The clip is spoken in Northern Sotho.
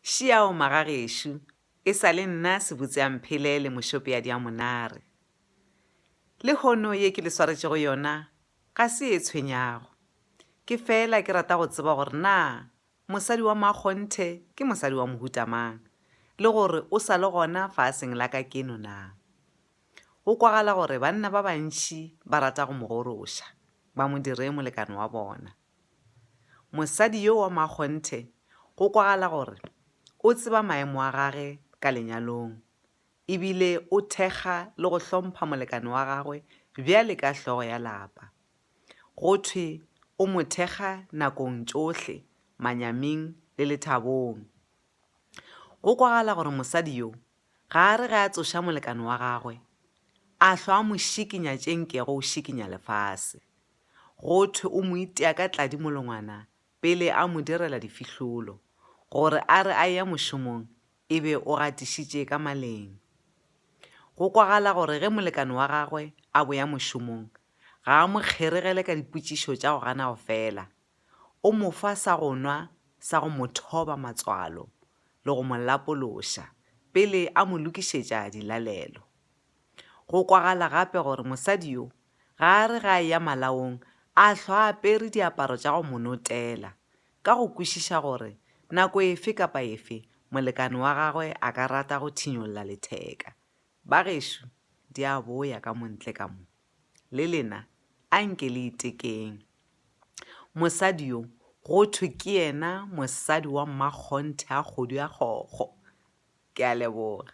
Šiao magagešo, e sa le nna Sebutseamphele le Mošope ya Diamonare. Lehono ye ke le swaretšego yona ga se e tshwenyago. Ke feela ke rata go tseba gore na mosadi wa Makgonthe ke mosadi wa mohuta mang le gore o sa le gona faaseng la ka keno na. Go kwagala gore banna ba bantši ba rata go mo goroša, ba mo dire molekane wa bona. Mosadi yo wa makgonthe go kwagala gore o tseba maemo a gage ka lenyalong e bile o thekga le go hlompha molekane wa gagwe bjale ka hlogo ya lapa. Go thwe o mo thekga nakong tšohle, manyaming le lethabong. Go kwagala gore mosadi yo ga a re ge a tsoša molekane wa gagwe a hlwa a mo šikinya tše nkego o šikinya lefase. Go thwe o mo itea ka tladi molongwana pele a mo direla difihlolo, gore a re a eya mošomong e be o gatišitše ka maleng. Go kwagala gore ge molekane wa gagwe a boya mošomong, ga a mo kgeregele ka dipotšišo tša go gana go fela, o mo fa sa go nwa sa go mo thoba matswalo le go mo lapološa pele a mo lokišetša dilalelo. Go kwagala gape gore mosadi yo ga a re ge a eya malaong a hlwa a apere diaparo tša go mo notela, ka go kwešiša gore nako efe kapa efe molekane wa gagwe a ka rata go thinyolla letheka. Bagešo, di a boya ka mo ntle ka mo. Le lena anke le itekeng. Mosadi yo go thwe ke yena mosadi wa mmakgonthe a kgodu ya kgokgo. Ke a leboga.